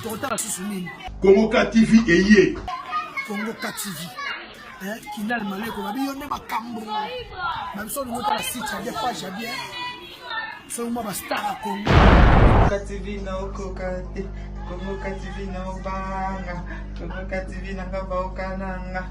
tokotala susu nini kongo ka tv eye kongo ka tv eh, kindal maleko babi yo nde makambo babiso olingo tala site ya bien page ya bien soki mwa bastar ya kongo ka tv naokoka te kongo ka tv naobanga kongo ka tv nanga baokananga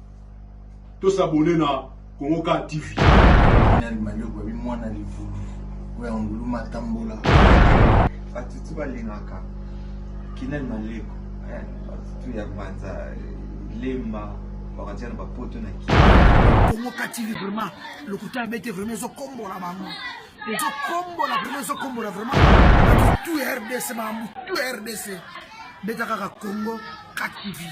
To s'abonner na Congo Car TV. Nani manioko babi mwana livulu oyo ya ngulu matambola. Batutu balingaka kinani maleko eh, batutu ya banza lemba bakatia na bapoto na ki Congo Car TV vraiment lokuta bete vraiment ezokombola bango ezokombola vraiment ezokombola vraiment batutu ya RDC makambo tu ya RDC beta kaka Congo Kakibi,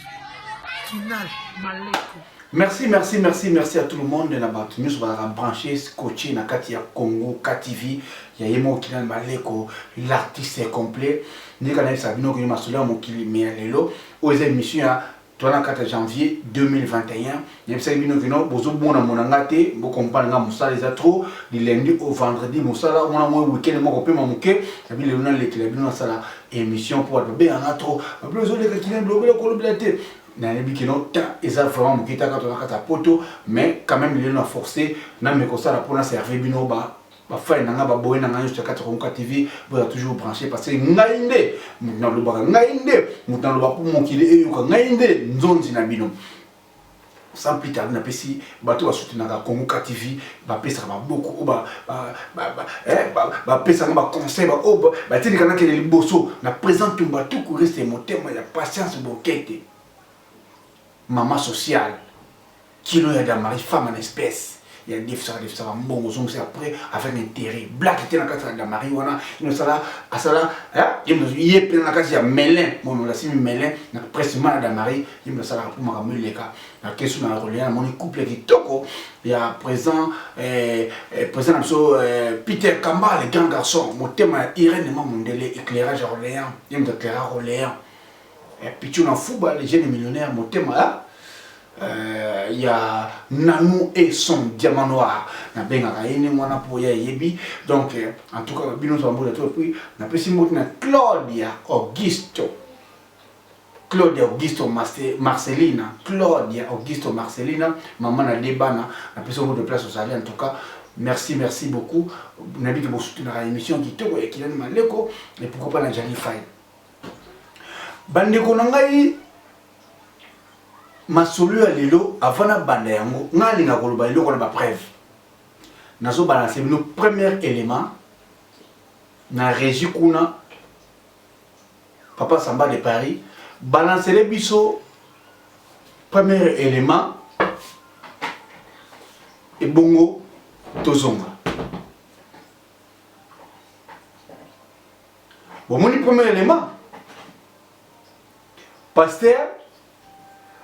Kinal, Maleko. Merci, merci, merci, merci à tout le monde. Na batu nyonso bazalaka branché, scotché na kati ya Congo, KTV, ya ye moko Kinal Maleko, l'artiste est complet. Ndika na yebisa bino kino masolo ya mokili mais ya lelo, oyo eza émission ya 24 janvier 2021. Nayebisaki bino que non bozo mona mona nga te, bo comprendre nga musala eza trop du lundi au vendredi musala wana moi week-end moko pema moke na bi lelo na lekela bino nasala émission pour ba benga nga trop ba bino zo leka kina bilobela kolobela te nayebi que non temps eza vraiment moke ta kato na kata poto mais quand même lelo na forcer na me kosala pour na servir bino ba bafani na ngai baboye na ngai nyonso ya kati konka tv boza toujours branché parce que ngai nde moto nalobaka ngai nde moto nalobaka mpo mokili eyoka ngai nde nzonzi na bino Sans plus tarder napesi bato ba soutenaka Congo KTV bapesaka maboko oyo bapesanga ba conseil baoyo batindika nakende liboso na president Tumba Tuku reste motema ya Patience Bokete mama sociale kilo ya Damari femme en espèce ya defisaka defisaka mbongo ozongisa après avec intérêt black te na kati ya damari wana inosala asala ye mpe na kati ya melin mono lasimi melin na presima na damari ye mpe asalaka mpo makambo eleka na kesu na kolia namoni couple kitoko ya présent eh, eh, présent na biso eh, peter kamba le grand garçon motema ya irene ma mondele éclairage ya orléans ye moto éclairage orléans Eh, Pichuna Fuba, le jeune millionnaire motema ya euh, ya Nanou et son diamant noir nabengaka ye ndenge wana mpo ya eyebi donc euh, en tout cas bino nso bambola to epuis napesi mbote na Claudia Augusto Claudia Augusto Marcelina Claudia Augusto Marcelina mama na de bana napesi mbote place ozali en tout cas merci merci beaucoup nayebi ke bosutenaka émission kitoko ya kilani maleko et pourquoi pas na jali fai Bandeko na ngai masolo ya lelo avant nabanda yango ngai alinga koloba eloko na bapreuve nazobalanse bino premier élément na régi kuna papa samba de paris balansele biso premier élément ebongo tozonga bomoni premier element pasteur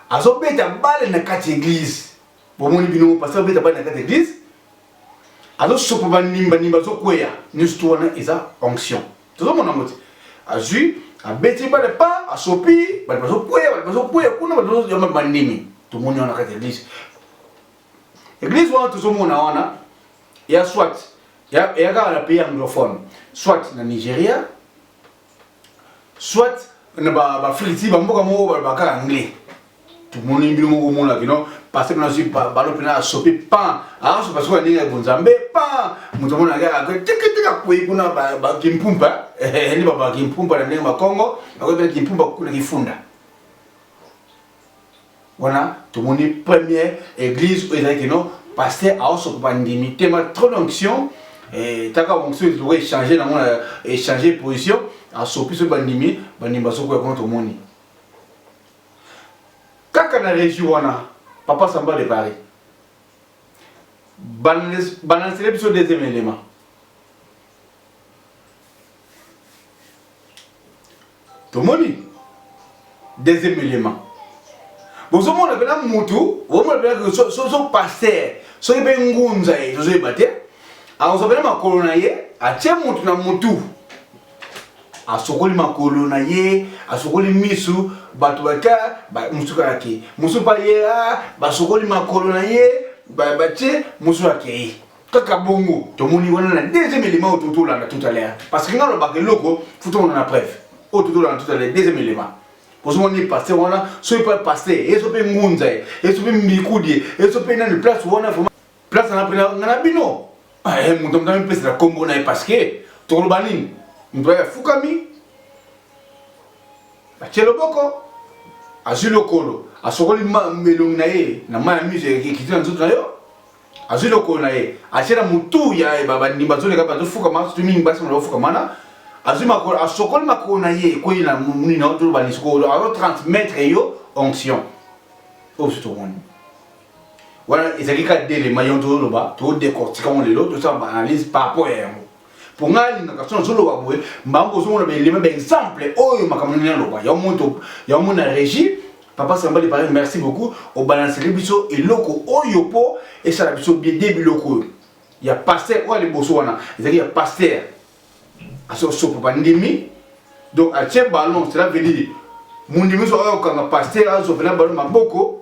azobeta bale na kati eglise bomoni bino pasteur azobeta bale na kati eglise azosopa banimbanimba azokweya nyonso to wana eza onction tozomona yango te azwi abeti bale pa asopi bato bazokweya bato bazokweya kuna bato bazobandimi tomoni wana kati eglise Eglise wana tozomona wana ya soit eya kaka na pays anglophone soit na Nigeria soit na bafriti bamboka moko balobaka kaka anglais tomoni mbino moko omona kino parce que nazwi balo mpena asopi pan asopa soki aninga ebonzambe pan moto omona kaka tikitiki akwei kuna bakimpumpa nde baba kimpumpa na ndenge makongo bakoyebela kimpumpa kuna kifunda wana tomoni première église oyo ezalaki no pasteur aosopa bandimi te ma trop d'onction eh, taka onction ezoko échange nango na échange position asopi soki bandimi bandimi bazokoya kuna tomoni kaka na région wana papa samba de paris banansele biso deuxième élément Tomoni deuxième element. Bozo mona pena mutu, bozo mona pena que so so pasteur, so yebe ngunza ye, bozo yeba te. Akozo pena makolo na ye, atie mutu na mutu. asokoli makolo na ye asokoli misu bato baka mosusu kaka ke mosusu baye basokoli makolo na ye batie mosusu akei kaka bongo tomoni wana na deuxième élément oyo totolanda tout à l'heure parce que nga lobaka eloko fo tomona na preuve oyo totolanda tout à l'heure deuxième élément kozomona ni paster wana soki pa paster ezo mpe ngunza ye ezo mpe mbikudi ye ezo mpe nani place wana vraiment place na mpena nga na bino ah, eh, moto moto amipesela nkombo na ye parce que tokoloba nini moto aye afukami batye loboko azwi lokolo asokoli elongi na ye na mai ya muse ekiti na nzoto na yo azwi lokolo na ye atie na motu ya ye babandi bazoleka bazofukama soki mingi basi mona bafukama wana azwi makolo asokoli makolo na ye ekwei na muni na otoloba lisukolo azo transmettre yo onction oyo biso tomoni wana ezalaki kaka delema yango tozoloba todecortika yango lelo tosala baanalyse par rapport ya yango mpo ngai alingaka so nazoloba boye mbango kozomona baelema baexemple oyo makambo nini aloba yango moto yango mona régi papa sambali pareil merci beaucoup obalanseli biso eloko oyo mpo esala biso bien de biloko oyo ya paster oyo aliboso wana ezali ya paster asosopa bandimi donc atie ballon cela veut dire mondimi so oyo okanga paster azopela ballon maboko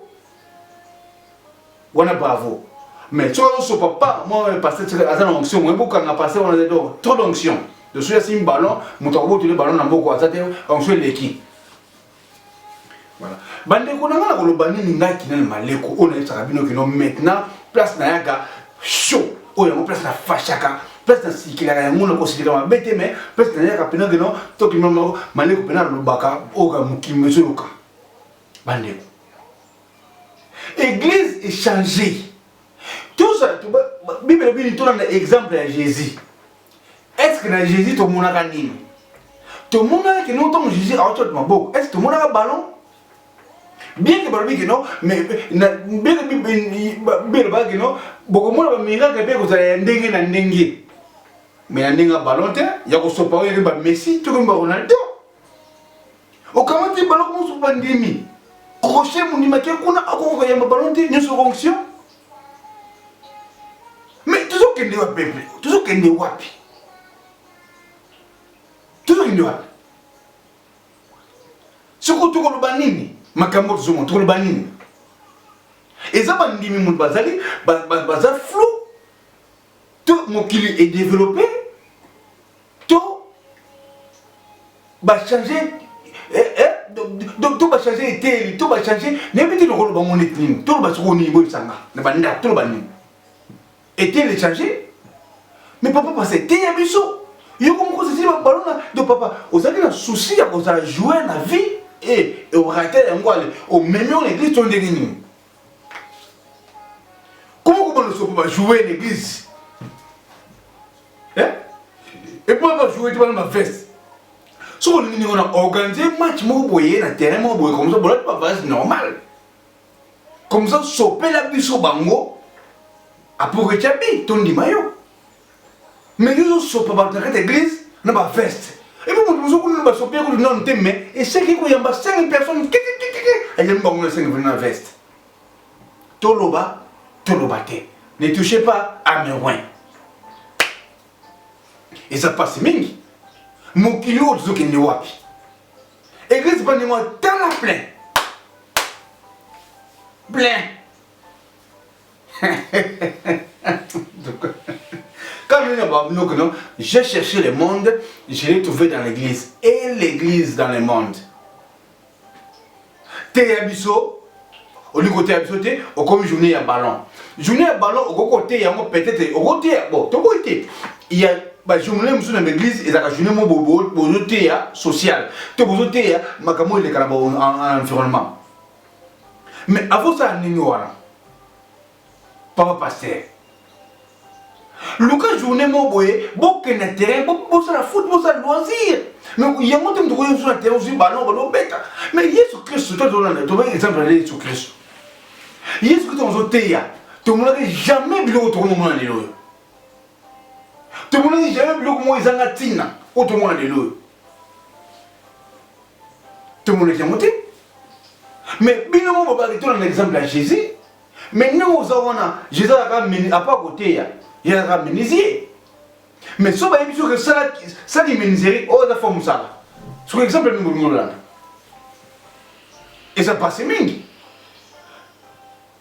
wana bravo mais soki azosopa pa mwa pasteur tika aza na onction moye bokanga pasteur wana do trop d'onction de soki asimbi ballon moto akobotoli ballon na mboko aza te onction eleki voilà bandeko na ngai na koloba nini ngai kinani maleko oyo nayebisaka bino kino maintenant place nayaka chaud oyo yango place na fashaka place na sikilaka yango na kosilika mabe te mais place nayaka mpena kino tokima maleko mpena alobaka oyo mokili mezoyoka bandeko Eglise est changée. Tout ça, tout, Bible est venue tourner l'exemple à Jésus. Est-ce que na Jésus tout le monde a nini? Tout le monde a que nous tombe Jésus à autre maboko. Est-ce que tout le monde a ballon? Bien que balobi que non, mais na bien que Bible ba que non, boko mona ba miracle pe kozala ya ndenge na ndenge. Mais na ndenge ballon te, ya ko sopa oyo ba Messi, tout comme ba Ronaldo. okamati baloko mosusu bandimi crochet mondimaki kuna akoki koyamba balo te nyonso onction mais tozokende wapi peple tozokende wapi tozokende wapi soko tokoloba nini makambo tozomona tokoloba nini eza bandimi moto bazali baza flou to mokili e developpe to bachange eh, eh, to bachange eteyeli to bachange nayebi te nokoloba ngo neti nini toloba soko nini boyebisanga na bandako toloba nini eteyeli echange mais papa pasa eteya biso yoko moko ozali babalona do papa ozalaki na souci ya kozala joue na vie e eh, orate yango ale omemi oyo na eglise to ndenge nini Comment comment nous sommes pas jouer l'église Hein Et puis on va jouer devant ma veste. soki olingi ndenge wana organise match moko boye na terrain moko boye komsa bolati bavase normal komsa sopela biso bango apres oketya bi tondima yo mais yo ozosopa bato na kati ya eglise na baveste epo moto mozo kuna basopi ye kutu nano te mais eseki koyamba 5 personnes kikikikiki ayambi bango na 5 vene na veste toloba toloba te ne touche pas à mes win eza mpasi mingi mokili oyo tozokende wapi eglise bandingo atala plein plein Quand je dis non, j'ai cherché le monde, je l'ai trouvé dans l'église. Et l'église dans le monde. Teya biso, olingi koteya biso te okomi journée ya ballon journée ya ballon okoki koteya yango peut-être okoteya bon tokoki te ya bajournée mosusu na baeglise ezalaka journée mo bozoteya sociale to bozoteya makambo elekana ba environnement Mais akosala nini wana papa pasteur luka journée moko boye bokende na terrain bosala foot bosala loisir mais yango te moto okoki ozwa na terrain ozwi ballon ballon obeta mais yesu kristu to tolanda tobe exemple ya yesu kristu yesu kristu ozoteya tomonaki jamais biloko tokomi omona lelo oyo tomonaki jamais biloko moko ezanga ntina oyo tomona lelo oyo tomonaki yango te mais bino mo bobaki tona na exemple ya jésus mais ndenge oza wana jésus azalaka apa koteya ye azalaka menuisier mais so bayebi soki sali menuiserie oyo aza fo mosala soki exemple mingi olingi olanda eza pase mingi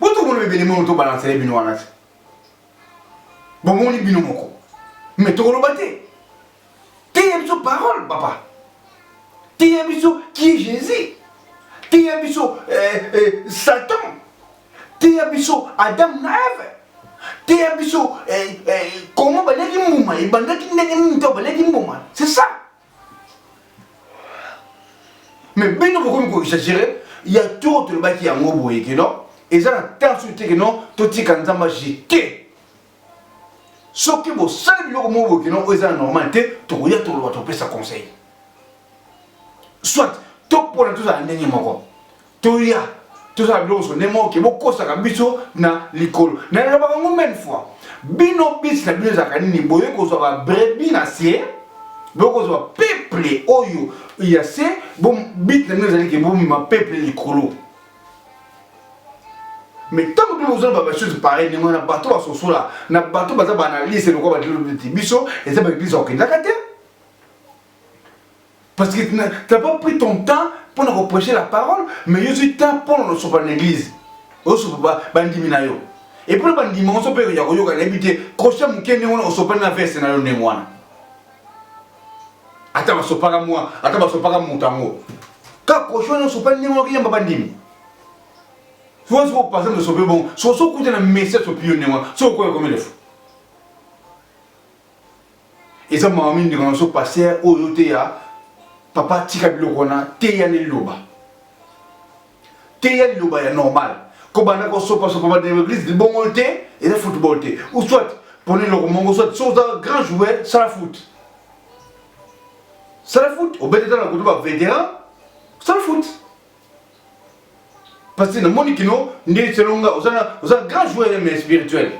Boto mona bebele mono to balance le bino wana. Bomoni bino moko. Mais to koloba te. Tiye biso parole papa. Tiye biso qui est Jésus. Tiye biso euh, euh, Satan. Tiye biso Adam na Eve. Tiye biso euh, euh, comment balaki mbuma, ebandaki ndenge nini to balaki mbuma. C'est ça. Mais bino bokomi ko exagérer ya tour tolobaki yango boye ke non eza na temps soki te ke non totika nzambe ajete soki bosali biloko moko boye ke non oyo eza na normal te tokoya toloba topesa conseil soit topona tozala ndenge moko toya tozala biloko nyonso nde moke bokosaka biso na likolo na elobaka ngo meme fois bino bisi na bino ezalaka nini boye kozwa babrebi na se bokozwa peple oyo ya se bit na bino ezali ke bomema peple likolo mais ntango mpe bozala babasosi pareil ndenge wana bato basosola na bato baza baanalyse lokola badilobiti biso eza baeglise akendaka te Parce que tu n'as pas pris ton temps pour nous prêcher la parole, mais il y a du temps pour nous sauver l'église. Nous sauver bandimi na yo. Et pour bandimi on sauver ya ko yoka n'habité, crochet muke ne wona sauver na veste na yo ne mwana. Ata ba sopaka mwa, ata ba sopaka mutango. Ka crochet no sauver ne wona kiyamba bandimi. Soki soki opasa no sauver bon, soki soki kuta na message sopi yo ne wona, soki okoya komelefu. eza mawa mingi ndeko na biso paster oyo oteya papa tika biloko wana teya na liloba teya liloba ya normal kobanda kosopasopa bana ya eglise libongoli te eza football te ou soit pona eloko moko soit so oza grand joueur sala foot sala foot obeteta na kutu bavétéran sala foot Parce que na moni kino nde selon nga oza na oza grand joueur mais spirituel.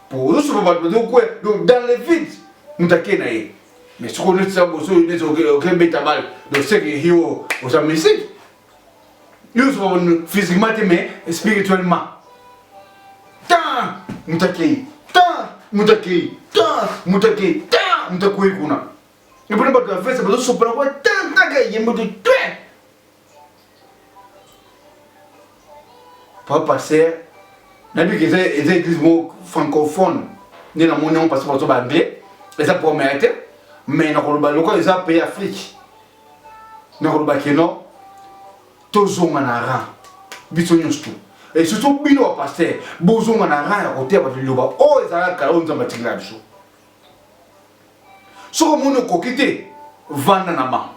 Pour nous souvent bato bazo kwe donc dans le vide mutake na ye. Mais soko neti sa boso neti oke beta balle donc c'est que hiyo oza mystique. Yo souvent physiquement te mais spirituellement. Tant mutake tant mutake tant mutake tant mutakoyi kuna. ebona bato ya fese bazosopola kwa tantaka eyembo te twe pa passer nayebi ke eza eza église moko francophone nde namoni yango parce bazo ba anglais eza problème ya te mais nakoloba lokola eza pays afrique nakoloba ke non tozonga na ran biso nyonso tu et surtout bino bapaster bozonga na ran ya koteya bato liloba oyo ezalaka kala oyo nzambe atikela biso soki omoni okoki te vanda na bango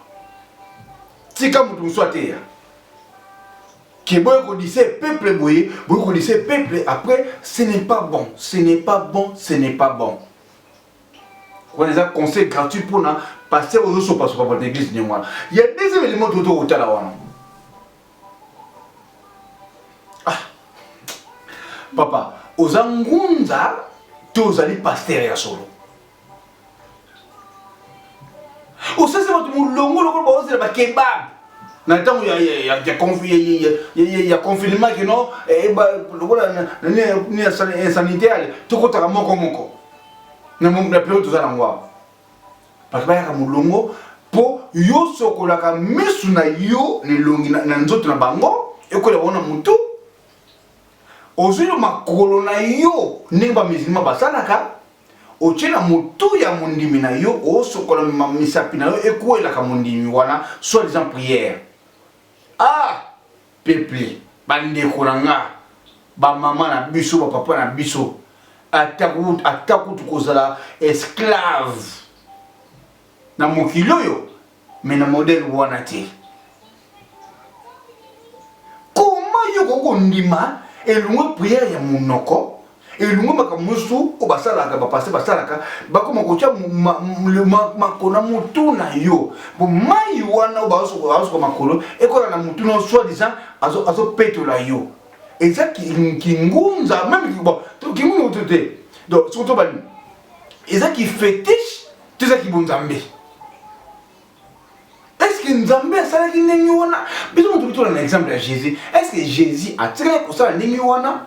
tika moto mosusu ateya ke boye kodise peuple boye boye kodise peuple après ce n'est pas bon ce n'est pas bon ce n'est pas bon wana eza conseil gratuit mpona paster ozosopasopa bato na église ndenge wana ya deuxième elimo toto kotala wana Ah. Papa, oza ngunza to ozali pasteur ya solo? Osese bato molongo lokola baozela ba kebab na ntango ya confinement kino lokola sanitaire tokotaka moko moko na periode toza na yango awa bato bayaka molongo mpo yo sokolaka misu na yo na elongi na nzoto na bango ekwela bango na motu ozwi na makolo na yo ndenge bamizilima basalaka otye na motu ya mondimi na yo osokola misapi na yo ekwelaka mondimi wana soit disant prière ah Peuple, ba ndeko na nga, ba mama na biso, ba papa na biso, ata kutu ata kutu kozala esclave na mokili oyo, mais na modèle wana te. Comment yo koko ndima elongwe prière ya monoko elungo makambo mosusu oyo basalaka bapaster basalaka bakoma kotya makolo na motu na yo po mai wana oyo bazosuka makolo ekola na motu na yo soit disant azopetola yo eza kingunza meme kingunza motu te donc soki tobani eza kifetiche to eza kibonzambe estce nzambe asalaki ndenge wana biso motu bitola na exemple ya jésus estce jésus atikaki kosala ndenge wana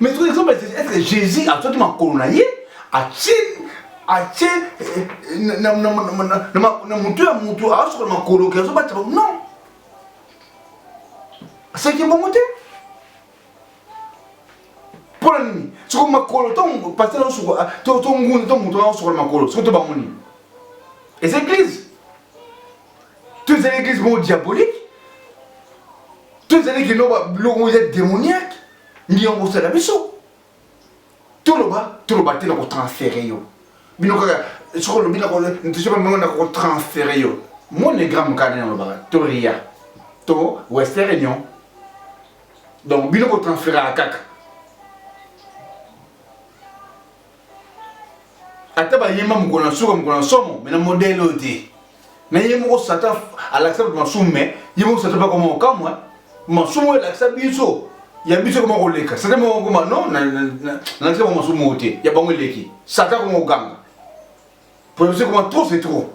Mais tout exemple, est-ce que Jésus a sorti ma colonaïe A-t-il atie na motu ya motu aosokola makolo ke azobata bango non aseki bongo te mpo na nini soko makolo to paster aosokola to nguni to motu aosokola makolo soko to bango nini eza eglise to ezali eglise moko diabolique to ezali kino biloko moko eza démoniaque nde yango kosala biso toloba toloba te na kotransfere yo bino kaka soki olobi nakosokimango na kotransfere yo monegramme kaka nde nalobaka to ria to western union donc bino kotransferaka kaka ata bayemba mokolo na suka mokolo na somo me na modele oyo te na ye moko satan alakisa bato masumu me ye moko satan bakoma kokamwa masumu oyo elakisa biso ya biso ekoma koleka satan moko koma no nalakisa bango masumu oyo te ya bango eleki satan akoma koganga mpo ya biso ekoma trop c'est trop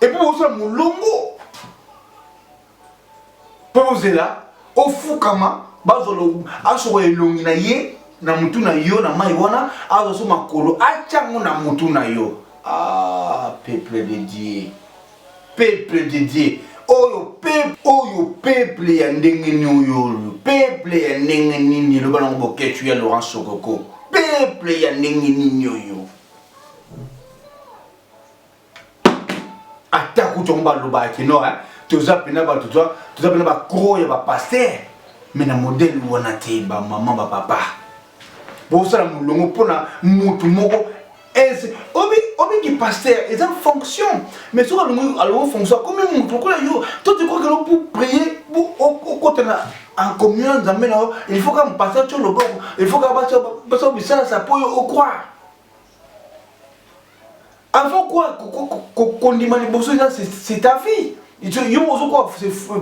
epuis bosala molongo mpo ozela ofukama bazwa asokola elongi na ye na motu na yo na mai wana azwa so makolo atya yango na motu na yo ah, peuple de dieu peuple de dieu oyo peuple oyo peuple ya ndenge nini oyo peuple ya ndenge nini eloba nango boketshu ya laurent sokoko peuple ya ndenge nini oyo ata kutu yango balobaka kino toza mpena bato toza mpena bacro ya bapaster me na modele wana te bamama bapapa bosala molongo mpona motu moko obiki paster eza fonction mais soki alongi alongo fonction akomi motu lokola yo to tikokelo pour prier okotana en communion nzambe na yo il faut ka mpasa tyo loboko il faut ka basa bisalasa mpo yo okroire Avant quoi kondima liboso eza c'est ta vie yo ozo kwa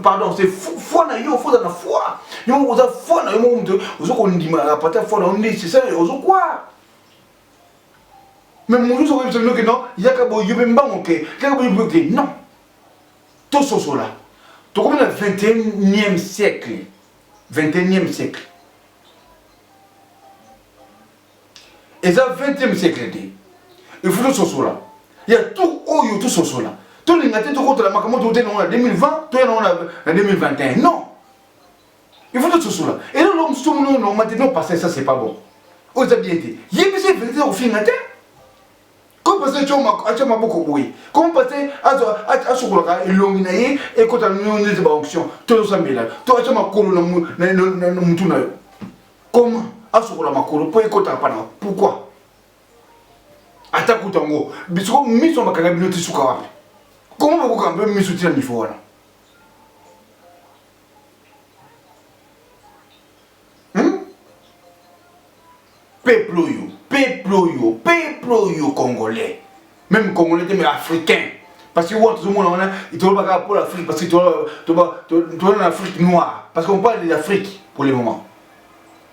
pardon c'est foi na yo faut na foi yo oza foi na yo moko moto ozo kondima na pata foi na yo nde c'est ça ozo kwa mais mosusu okoyebisa bino ke non yaka boye yo mpe mbango ke yaka boye boye ke non tososola tokomi na 21e siècle 21e siècle eza 20e siècle te il faut tososola ya tout oyo tososola tolinga te tokotela makambo tote nango na 2020 toya nango na 2021 non il faut tososola elo lo mosusu mono normal te no pasteur ça c'est pas bon oyo eza bien te yebisa verité okofinga te comme pasteur atya maboko boye comme pasteur asokolaka elongi na ye ekota neti baonction tozosambela to atya makolo na motu na yo comment asukola makolo mpo ekotaka mpa na pourquoi ata kutu yango bisiko miso ya makanga bino tisuka wapi comment bokoka mpe miso tina mifo wana hmm? peuple oyo peuple oyo peuple oyo congolais meme congolais te mais africain parce que wana tozomona wana toloba kaka mpo l'afrique parce que toza na afrique noire parce qu'on parle de l'afrique pour le moment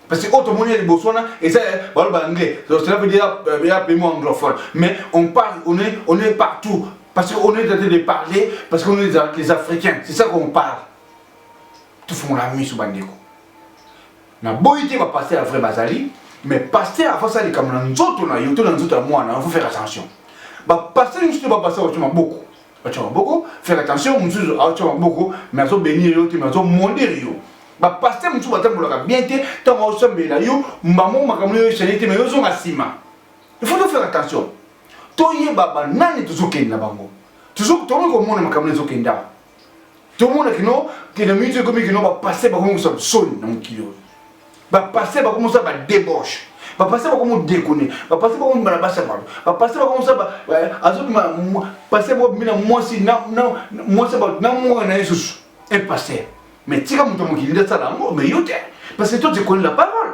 parce que oyo tomoni ya liboso wana eza baloba anglais cela veut dire ya pays mo anglophone mais on parle on est, on est partout parce qu'on est en train de parler parce qu'on est les africains c'est ça qu'on parle tofungola miso bandeko Na boyi te ba pasteur ya vrai bazali mais pasteur avant ça likambo na nzoto na yo to na nzoto ya mwana na faut faire attention. Ba pasteur mususu te ba pasteur ba choma boko. Ba choma boko faire attention mususu a choma boko mais azo bénir yo te mais azo mondir yo. Ba pasteur mususu ba tambolaka bien te tango azo sambela yo mbamo makambo yo changer te mais yo zonga sima. Il faut faire attention. To yeba ba nani tozo kende na bango. Tozo tozo komona makambo ezo kende awa. tomona kino te na miniti ekomi kino bapaster bakomi kosala soni na mokili oyo bapaster bakomi kosala badebauche bapaster bakomi odekone bapaster bakomi bana basi ya bato bapaster bakomi kosala eh, azobima paster moko bimi na mwasi mwasi ya bato na mwana na ye susu un paster mais tika moto ya mokili nde asala yango mais yo te parce que toi tu connais la parole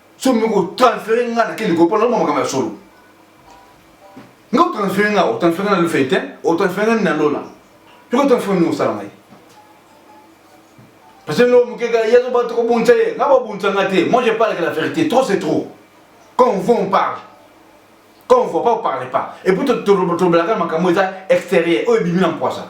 so mi ko transférer nga na kende ko pona mo makama solo nga transférer nga o transférer na le fait hein o transférer na lola tu ko transférer ni osala ngai parce que l'homme qui a yazo ba trop bonza ye nga ba bonza nga te moi je parle que la vérité trop c'est trop quand on voit on parle quand on voit pas on parle pas et puis to to to blaka makambo eza extérieur oyo bimi na mpoisa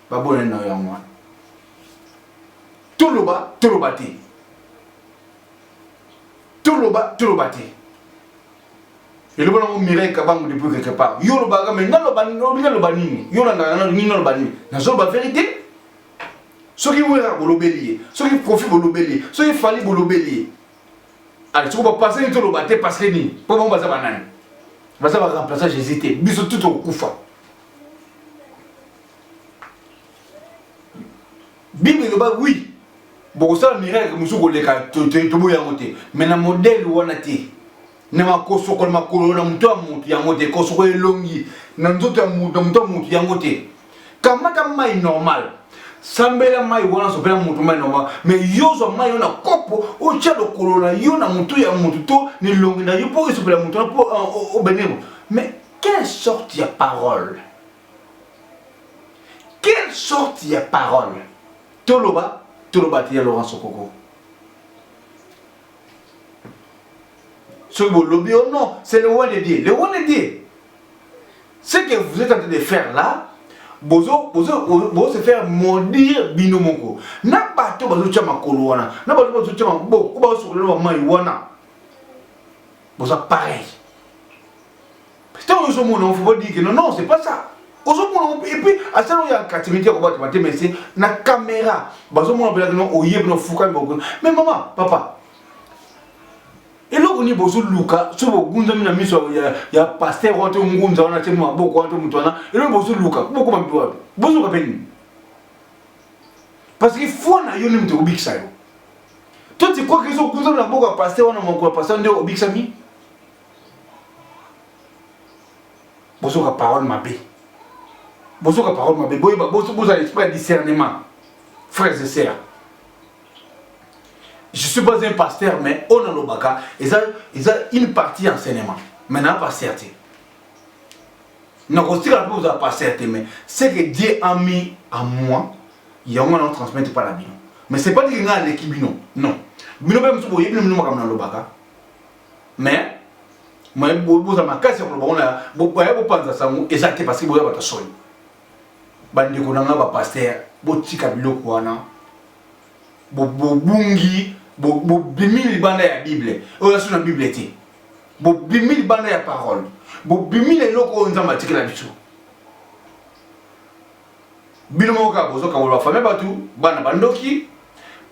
Babonani na yo yango wana. Toloba, toloba te. Toloba, toloba te. eloba nango mirai kabango depuis quelque part yo olobaka mai nalobi naloba nini yo olandaka nano nini naloba nini nazoloba verité soki wera bolobeli ye soki kofi bolobeli ye soki fali bolobeli ye ali soki bapase nini toloba te parce que nini mpo bango baza banani baza baremplaça jésus te biso tu tokokufa bible eloba wi bokosala miracle mosusu koleka toboyi yango te me na modele wana te na makosokola makolo na moto ya motu yango te kosoko elongi na nzoto ya moto na moto ya motu yango te kamata mai normal sambela mai wana sopela moto mai normal me yo zwa mai yo na kopo otya lokolo na yo na motu ya motu to na elongi na yo mpo esopela moto wana mpo euh, obenemo mais quelle sorte ya parole Quelle sorte ya parole Toloba, toloba te ya Laurent Sokoko. soki bolobi oh non c'est le roi de dieu le roi de dieu ce que vous êtes en train de faire là bozo bozo bozo se faire maudire bino moko na bato bazotya makolo wana na bato bazotya maboko baosokolela bamai wana boza pareil ntango ozo mona ofu bo dire non non c'est pas ça ozo mona et puis asala oyo ya katimiti ya kobata mate mais c'est na caméra bazo mona bela kino oye bino fukami boko mais maman papa eloko nini bozoluka so bogunzami na miso ya paster wana to ngunza wana te maboko wana to moto wana eloko bozoluka bokoma mpe wapi bozoluka mpe nini parce que foi na yo nde moto ekobikisa yo to tikwa ke ezokunzami na boko ya paster wana mokolo ya paster nde obikisami bozoka parole mabe bozoka parole mabe boyeba bozala esprit ya discernement frères et sœurs je suis pas un pasteur mais oyo nalobaka eza eza une partie ya enseignement mais naa pasteur te nakotikala mpe kozala pasteur te mais ce que dieu a mis à moi yango na transmettre mpa na bino mais c'est pas dire ngai aleki bino non bino mpe mosusu boyebi na bino makambo nalobaka mais mais boza makasi ya koloba ona baya bopanza sango eza te parce que boza bato soni bandeko na ngai bapaster botika biloko wana bobungi bobimi libanda ya bible oyo aso na bible te bobimi libanda ya parole bobimi na eloko oyo nzambe atikela biso bino moko kaka bozoka koloba fami bato bana bandoki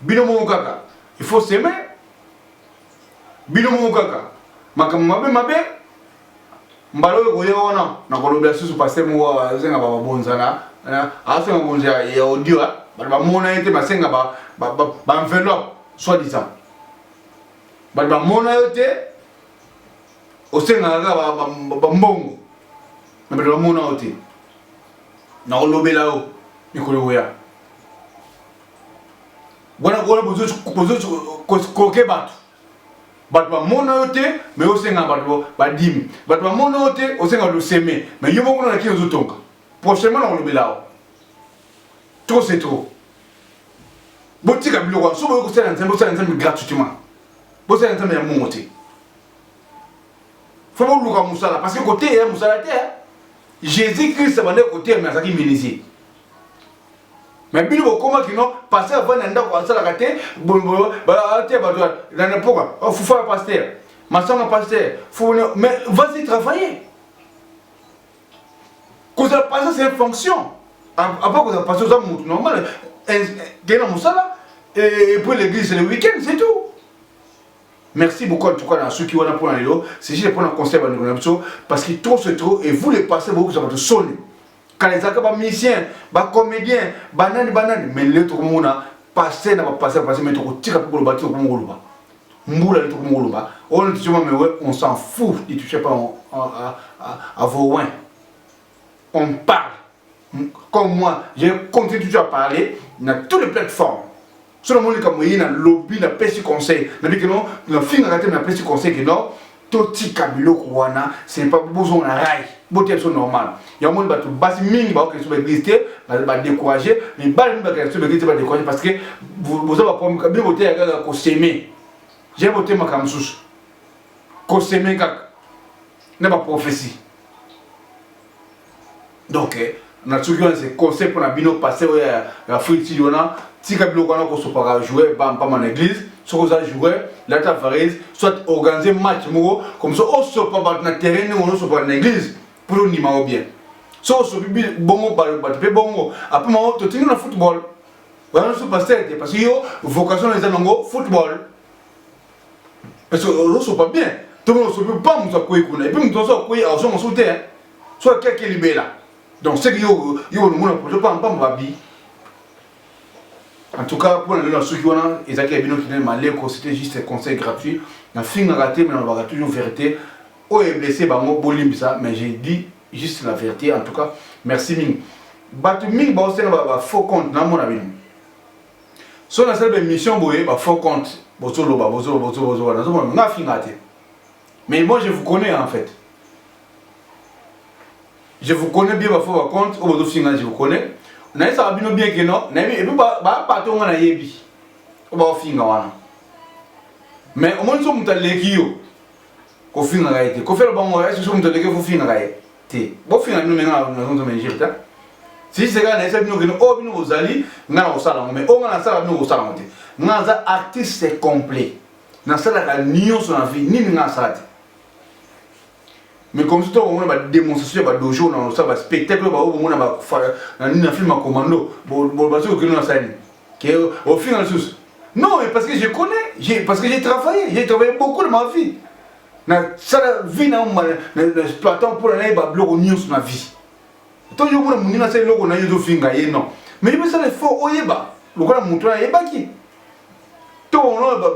bino moko kaka il faut seme bino moko kaka makambo mabe mabe mbala oyo koya wana nakolobela susu paster moko asenga bababonzana asenga bonzo ya audio bato bamona ye te basenga baenveloppe soit disant bato bamona yo te osengaka kaka bambongo na bato bamona yo te nakolobela yo mikolo koya wana kola bozokoke bato bato bamona yo te me osenga bato badimi bato bamona yo te osenga bato oseme me yo moko na kini ozotonga prochainement nakolobela yo trop c'est trop botika biloko wana so boye kosala nzambe bosala nzambe gratuitement bosala nzambe ya mongo te fo boluka mosala parce que koteya mosala te jésus christ abandaki koteya me azalaki menuisier Mais bino bokoma kino pasteur avandi na ndako asalaka te atia bato na napoka oh, fufa ya pasteur masanga pasteur fone mais vas-y travailler kozala pasteur c'est une fonction apa kozala pasteur oza motu normal kei na mosala et puis l'église le week-end c'est tout Merci beaucoup en tout cas à ceux qui ont un point à l'eau. C'est juste pour un conseil à nous parce que trop c'est trop et vous les passez beaucoup ça va te sonner. kala ezalaka ba musicien ba comédien banani banani mais lelo tokomona passe na bapasse bapasse mais tokotika mpe koloba ti tokomi koloba mbula lelo tokomi koloba oyo na tisoma mewe on s'en fout ne touchez pas à vos wins on parle comme moi j'ai continué toujours à parler na toutes les plateformes soki namoni likambo eye nalobi napesi conseil nabi kino nafingaka te napesi conseil kino totika biloko wana sepa bozonga na rai botia biso normal yango moni bato basi mingi baokende biso baeglise te badécourage mibali mingi bakenda biso baeglise te badécourage parce que boza baproblème bino boteya kaka koseme jai bote makambo mosusu koseme kaka na baprophétie donc eh, na soki wana se conseil mpo na bino pasteur oyo ya free sidi wana tika biloko wana kosopaka joueur bampama na église soki oza joueur lata varese soit organise match moko comme ça osopa bato na terrain ndenge onosopaka na église mpo tondima yango bien so osopi bongo bato mpe bongo apres mango totingi na football wana so pasteur te parce que yo vocation eza nango football Parce que olosopa bien ntongo olosopi mpa moto akwei kuna epuis moto nyonso akwei azwa mosusu te so ake ake libela donc seke yo olongona poto mpa mpambo babi en tout cas mpo na lelo nasuki wana ezalaki ya bino kine maleko c'était juste conseil gratuit nafingaka te me nalobaka toujours vérité oyo eblesse bango bolimbisa mais j'ai dit juste la vérité en tout cas merci mingi bato mingi baosenga bafaux compte namona bino so nasali ba émission boye ba faux compte bozoloba bozoloba bozoloba bozoloba nazomona nga afinga te mais moi je vous connais en fait je vous connais bien ba faux ba compte oyo bozofinga je vous connais nayebisaka bino bien ke no nayebi epuis bapato nga nayebi oyo baofinga wana mais omoni so moto aleki yo kofingaka ye te kofela bango ese so moto aleki yo fofingaka ye te bofinga bino me nga nazonzo me injure te sise kaka nayesa bino kende oyo bino bozali nga na kosala yango me oyo nga nasala bino kosala yango te nga naza artiste complet nasalaka nyonso na vie nini nga nasala te mais comme si tokomona bademonstration ya badojo na osala baspectacle oyo baoyo bomona na film ya commando bazoki kokende na salani ke ofinga lisusu non mais parce que je connais parce que j'ai travaillé j'ai travaillé beaucoup de ma vie nasala vie na exploitant mpona naye babiloko nyonso na vie to yo mona moninga asala eloko na ye ezofinga ye non mais yo mosala effort oyeba lokola moto oyo ayebaki to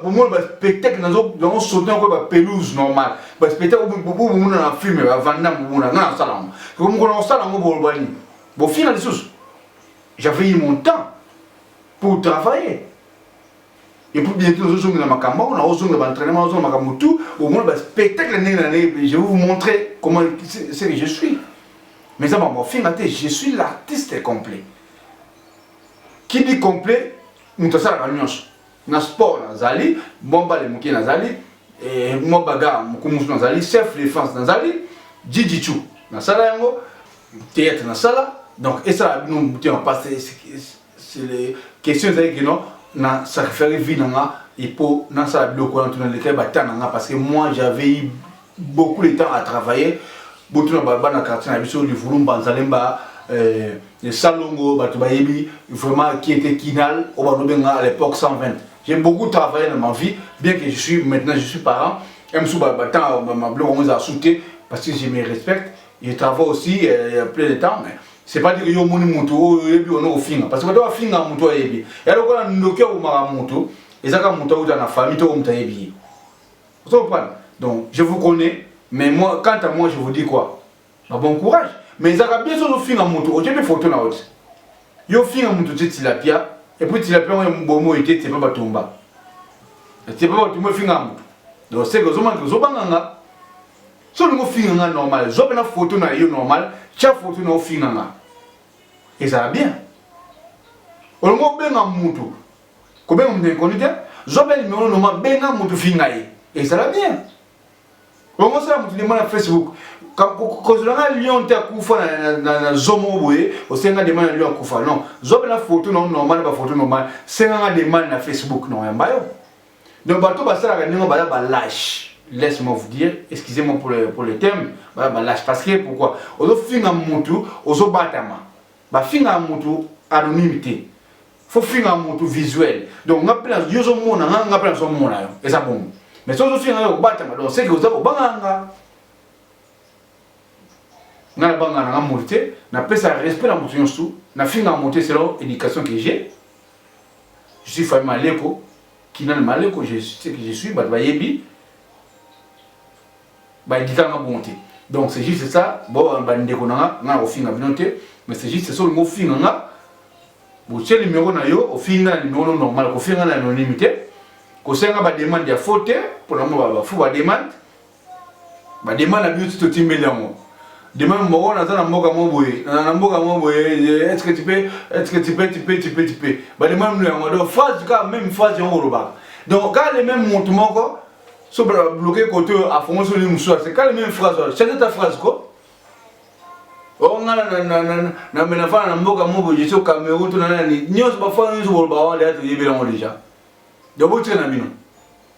bomona baspectacle nango sote nako bapelouse normal baspectacle bomona na filme bavanda mobona nga nasala yango soko mokolo nakosala yango boloba nini bofina lisusu j'avais eu mon temps pour travailler Et puis bientôt nous allons makambo, na ozonga ba entraînement, ozonga makambo tout, au moins ba spectacle ndenge na ndenge, je vais vous montrer comment c'est que je suis. Mais ça m'a fait mater, je suis l'artiste complet. Qui dit complet, nous ça la nuance. Na sport nazali, bomba le muki nazali, et moi baga mukumus nazali, chef de France nazali, Gigi Chou. Na sala yango, théâtre na sala, donc et ça nous on passe C'est le question ezali que non na sacrifier vie na nga et pour na sala biloko wana tuna leka ba temps na nga parce que moi j'avais eu beaucoup de temps à travailler botuna ba bana quartier na biso livulu mbanza lemba euh, salongo bato bayebi vraiment qui était kinal oyo balobenga à l'époque 120 j'ai beaucoup travaillé dans ma vie bien que je suis maintenant je suis parent un mosusu batango mabloko yango eza sute parce que je me respecte je travaille aussi euh, plein de temps mais c'est pas dire que yo omoni moto oyo oyebi ono ofinga parce que bato bafinga moto oyo ayebi ya lokola ndoki akomaka moto eza kaka moto auta na famille to moto ayebi ye ozo comprendre donc je vous connais mais moi quant à moi je vous dis quoi ba bon courage mais ezaka bien soki ofinga moto otie mpe foto na yo te yo ofinga moto otie tilapia epuis tilapia yango ya bomo ete etie mpe batomba etie mpe batomba efinga moto donc seke ozomaki ozobanganga so olingi ofinga nga normal zwa mpena foto na yo normal tya foto na ofinga nga ezala bien olingi obenga mutu kobenga mutu inconnu te zwa mpe nimero noma benga mutu finga ye ezala bien olingi osala mutu demande na facebook kozela nga lion te akufa na zomo boye osenga demande na lion akufa non zwa mpena foto na yo normal bafoto normal senga nga demande na facebook na oyamba yo Donc bato basalaka ndenge baya ba lâche. Laisse-moi vous dire, excusez-moi pour le, pour le terme, baya ba lâche parce que pourquoi? Ozo finga mutu, ozo batama. Ba finga mutu anonyme te. Faut finga mutu visuel. Donc nga pela yo zo mona nga nga pela zo mona yo. Eza bon. Mais sozo finga yo batama donc c'est que ozo banga nga. Nga na banga na nga mutu te, na pesa respect na mutu nyosu, na finga mutu selon éducation que j'ai. je suis famille maleko kinana maleko je sais que je suis bato bayebi bayedika nga bongo te donc c'est juste ça bo bandeko na nga nga nakofinga bino te mais c'est juste so olingi ofinga nga botie numero na yo ofinga na numero no normal kofinga na anonyme te kosenga bademande ya faux te mpona mo bafu bademande badema na biuti totimbeli yango dema moko naza na mboka mo boye na mboka mo boye eske tipe eske tipe tipe tipe tipe badema mino yango donc phrase kaka même phrase yango kolobaka donc kaka le même motu moko so bloke kote oyo afongosi oli mosusu ase kaka le même phrase wana change ta phrase ko ongana na menafana na mboka mo boye jesu cameroun to na nani nyonso bafana nyonso kolobaka wana deya toyebelango deja donc botika na bino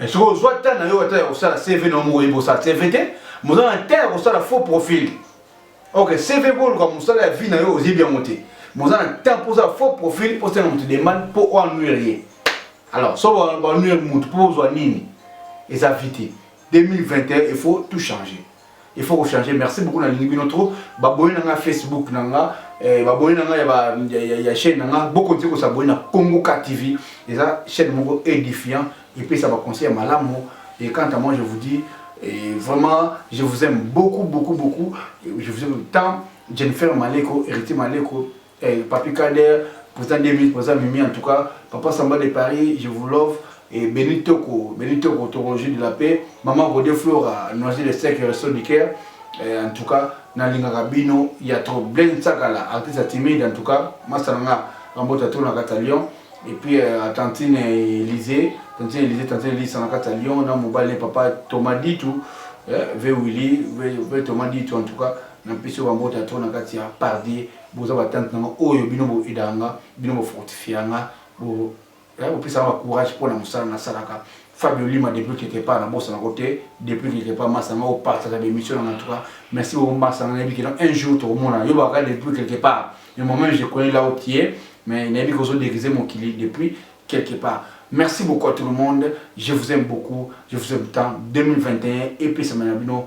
Eh, soki ozwa temps na yo ata ya kosala cv na yo moko oyebi kosala cv te moza na temps ya kosala faux profil ok cv mpo oluka mosala ya vie na yo oyebi yango te moza na temps mpo ozala faux profil mpo osenga moto demande mpo oanuire ye alors so banuire moto mpo ozwa nini eza vie te 2021 il faut tout changer il faut ko changer merci beaucoup nalingi bino trop babone na nga facebook na nga eh, babone na nga ya, ba, ya, ya, ya chaîne na nga bokonzi kosabone na congo ka tv eza chaîne moko édifiant epesa baconseil ya malamu et quant à moi je vous dis eh, vraiment je vous aime beaucoup beaucoup beaucoup je vous aime tant jennifer maleko héritier maleko Eh, Papi Kader, posa deux minutes, posa Mimi, en tout cas, Papa Samba de Paris, je vous love. Et Béni Toko, Béni Toko, Toko de la paix. Maman Godé Flora, Noisy le sec, Resto du cœur. Eh, en tout cas, Nalinga Rabino, il y a trop. Blaine Sakala, artiste à timide, en tout cas, Masanga, Rambota Tour, la Cata Lyon. Et puis, euh, à Tantine Élysée, Tantine Élysée, Tantine Élysée, la Cata Lyon, dans Mobile, Papa Thomas Ditou, eh, V. Willy, V. Thomas Ditou, en tout cas, na mpe so bambota to na kati ya pardier Boza ba tante nanga oyo bino bo edaka nga, bino bo fortifiaka nga, bo pesaka nga ba courage pona musala na salaka. Fabio Lima depuis quelque part na bosana ko te, depuis quelque part masta nanga o partageaka ba emission nanga en tout cas merci beaucoup masta nanga nayebi que non un jour toko monana yo baka depuis quelque part mais moi meme je connais là où tu es mais nayebi que ozo deguiser mokili depuis quelque part. Merci beaucoup à tout le monde, je vous aime beaucoup, je vous aime tant, 2021 epesama na bino.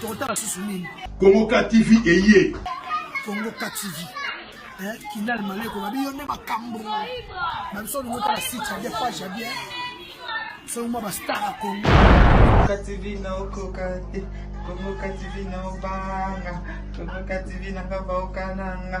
tokotala susu nini kongo ka tv eye kongo ka tv eh, kinal maleko babi yo nde makambo na biso olingo tala site ya bien page ya bien soki mwa bastar ya kongo kongo tv na okoka te kongo ka tv na obanga kongo ka tv nanga baokananga